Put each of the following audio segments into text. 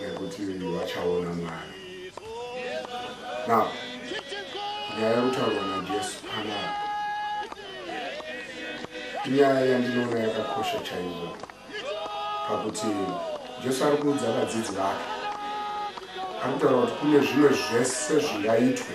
nekuti vachaona mwari now nyaya yekutaurwa najesu panapa inyaya yandinoona yakakosha chaivo pakuti jesu ari kuudza vadzidzi vake ari kutaura kuti kune zvimwe zvese zvingaitwe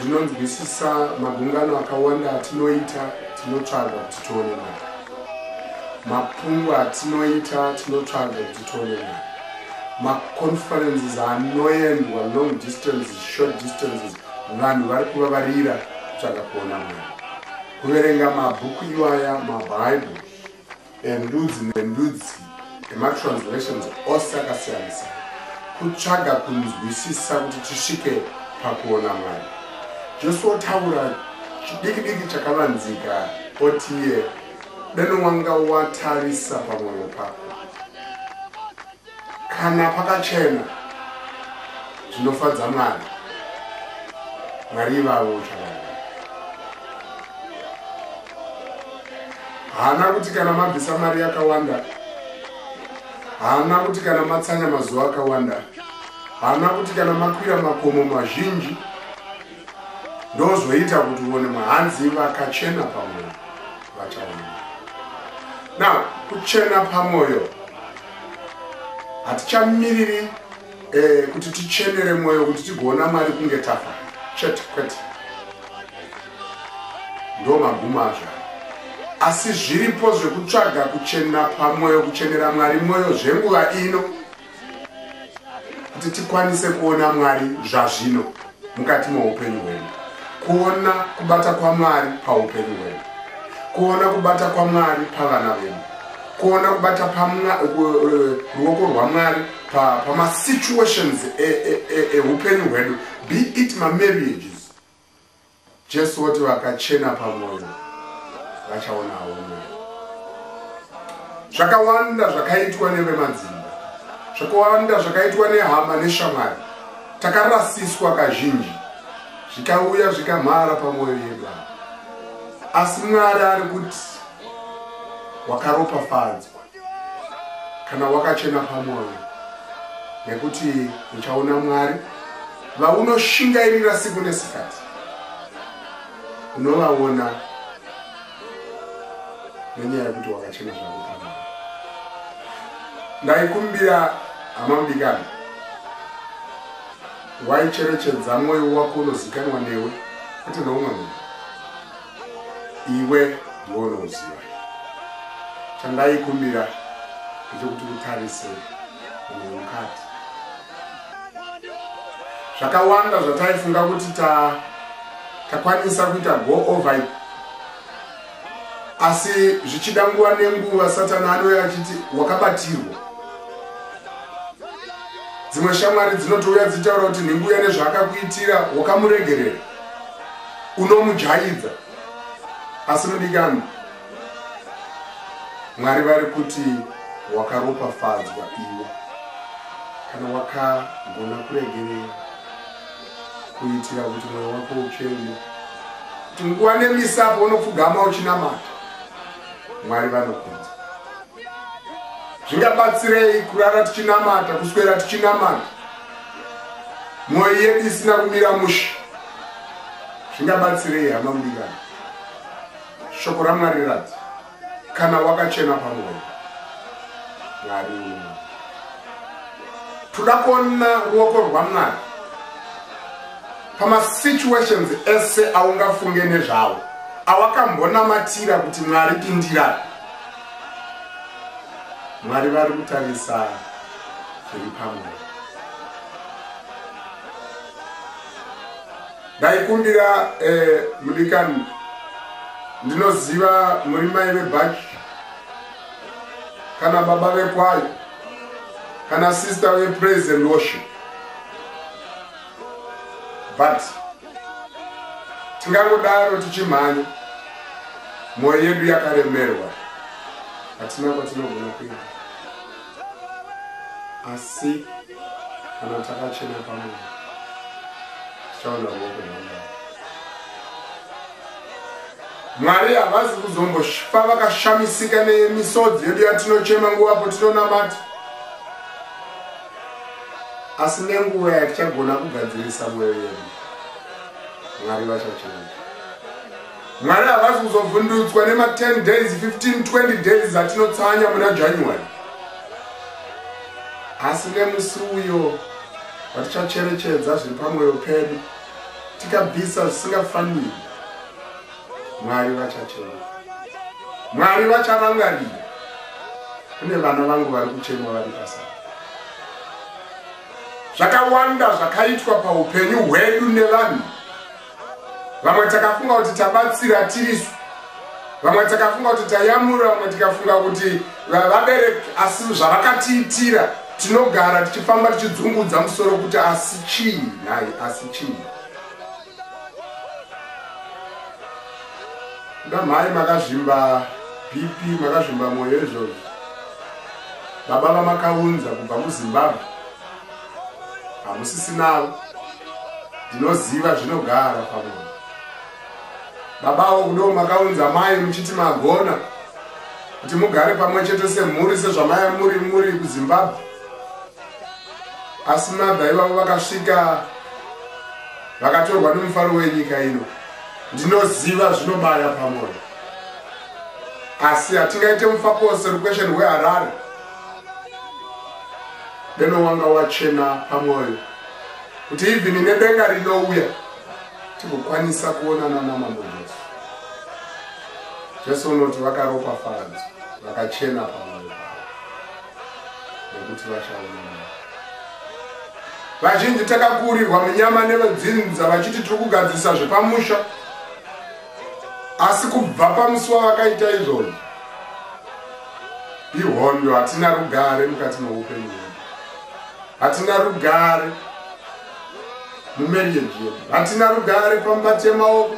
ndinonzwisisa magungano akawanda atinoita tinotsvaga kuti tione mari mapungwa atinoita tinotsvaga kuti tione mari maconferences anoendwa long distances short distances vanhu vari kuvavarira kutsvaga kuona mari kuverenga mabhuku iwaya mabhaibheri endudzi nendudzi ematranslations ose akasiyanisa kutsvaga kunzwisisa kuti tisvike pakuona mwari jesu otaura chidiki diki chakavanzika otiye deno wanga watarisa pamwoyo pako Kana pakachena zvinofadza Mwari. Mwari ivavo uchavana. Haana kuti kana mabvisa mari yakawanda. Haana kuti kana matsanya mazuva akawanda. Haana kuti kana makwira makomo mazhinji ndozoita kuti uone mahanzi vakachena pamwoyo vachaona now kuchena pamwoyo hatichamiriri eh, kuti tichenere mwoyo kuti tigoona mari kunge tafa chete kwete ndo magumo azvo asi zviripo zvekutsvaga kuchena pamwoyo kuchenera mwari mwoyo zvenguva ino kuti tikwanise kuona mwari zvazvino mukati meupenyu hwedu kuona kubata kwamwari paupenyu hwedu kuona kubata kwamwari pavana vedu kuona kubata ruoko rwamwari pamasituations e, e, e, eupenyu hwedu be it mamarriages Jesu woti vakachena pamwoyo vachaonawo mwoyo. Zvakawanda zvakaitwa nevemadzimba, zvakawanda zvakaitwa nehama neshamwari, takarasiswa kazhinji zvikauya zvikamhara pamwoyo yedu asi mwari ari kuti wakaropafadzwa kana wakachena pamwoyo nekuti uchaona mwari vaunoshingairira siku nesikati unovaona nenyaya yekuti wakachena zvako pamwoyo ndaikumbira hama mudikani waicherechedza mwoyo wako unozikanwa newe kwete neumwe munhu iwe ndiwe unoziva chandaikumbira ndechekuti utarise mumwe mukadzi zvakawanda zvataifunga kuti takwanisa kuita go over it asi zvichida nguva nenguva satani anouya achiti wakabatirwa dzimwe shamwari dzinotouya dzichitaura kuti nhenguya nezvaakakuitira wakamuregerera unomujaidza asi mudikani mwari vari kuti wakaropafadzwa iwe kana wakagona kuregerera kuitira kuti mwoyo wako uchene kuti nguva nemisapo unopfugama uchinamata mwari vanokunza zvingabatsirei kurara tichinamata kuswera tichinamata mwoyo yedu isina kumira mushe zvingabatsirei hama mudikani shoko ramwari rati kana wakachena pamwoyo mwari uno toda kuona ruoko rwamwari pamasituations ese aungafunge nezvavo awakambonamatira kuti mwari pindira mwari vari kutarisa zviri pamwoyo ndaikumbira eh, mudikani ndinoziva muri mai vebhaki kana baba vekwayo kana sister vepraise and worship but tingangodaro tichimhanya mwoyo yedu yakaremerwa hatina kwatinogona kuenda asi kana takachena pamwe tichaona ruoko rwamwari mwari havazi kuzomboshipa vakashamisika nemisodzi yedu yatinochema nguva po tinonamata asi nenguva yatichagona kugadzirisa mwoyo yedu mwari vachachena Mwana havasi kuzovhundutswa nema 10 days 15 20 days zatinotsanya muna January. Asi nemusi uyo vatichacherechedza zviri pamwoyo pedu tikabvisa zvisingafaniri mwari vachachema mwari vacharangarira kune vana vangu vari kuchema vari pasa zvakawanda zvakaitwa paupenyu hwedu nevanhu vamwe takafunga kuti tabatsira tirisu vamwe takafunga kuti tayamura vamwe tikafunga kuti vabereki asi zvavakatiitira tinogara tichifamba tichidzungudza musoro kuti asi chii nhai asi chii kuda mhai makazvimba bp makazvimba mwoyo izvozvo baba vamakaunza kubva muzimbabwe hamusisinawo ndinoziva zvinogara pamunhu babawo kudo makaunza mai muchiti magona kuti mugare pamwe chete semhuri sezvamaya muri muri kuzimbabwe asi mabva ivavo vakasvika vakatorwa nemufaro wenyika ino ndinoziva zvinobaya pamoyo asi hatingaite mufakosi requestion weharare deno wanga wachena pamwoyo kuti ivhini nedenga rinouya tigokwanisa kuonana namambo jesu jesu unoti vakaropa faradzo vakachena pamwoyo pavo nekuti vachaonana vazhinji takakuurirwa munyama nevedzinza vachiti tiri kugadzirisa zvepamusha asi kubva pamusi wavakaita izvozvo ihondo hatina rugare mukati meupenyu hwedu hatina rugare mumarriage yedu hatina rugare pambati yemaoko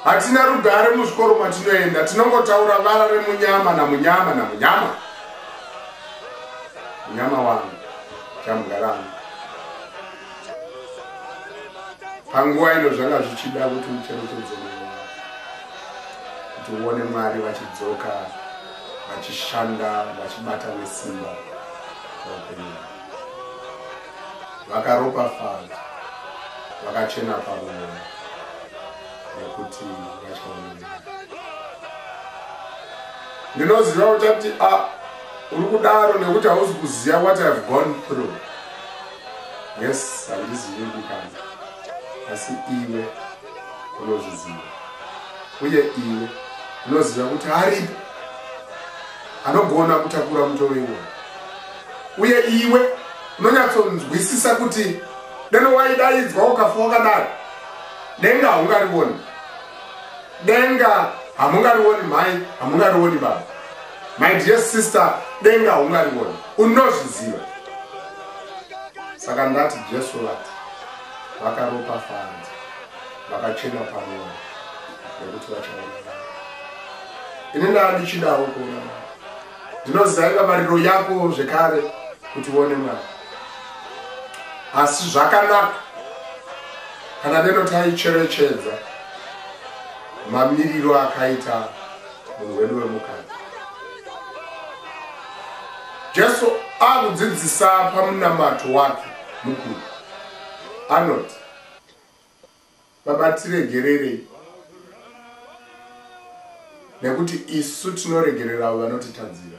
hatina rugare muzvikoro matinoenda tinongotaura vara remunyama namunyama namunyama munyama wangu chamugara wangu panguva ino zvanga zvichida kuti ucherechedze mwoyo wako kuti uone mwari vachidzoka vachishanda vachibata nesimba paupenyu vakaropafadza vakachena pamwoyo nekuti vachaonea ndinoziva kuti ati a ah, uri kudaro nekuti hauzi kuziva what ihave gone through Yes, handizivi kukanda, asi iwe unozviziva, uye iwe unoziva kuti aripo anogona kutakura mutoro iwoyo, uye iwe unonyatsonzwisisa kuti deno waidaidzwa ukafa wakadaro denga haungarioni, denga hamungarioni mhai, hamungarioni baba. my dear sister denga haungarivoni unozviziva saka ndati jesu vati vakaropa fanzi vakachena pamwoyo nekuti vachaona ini ndaa ndichidawo kuona ndinoziva inga mariro yako zvekare kuti uone mwana asi zvakanaka kana deno taicherechedza mamiriro akaita munhu wedu wemukadzi jesu akudzidzisa pamunamato wake mukuru anoti vabatiregererei nekuti isu tinoregereravo vanotitadzira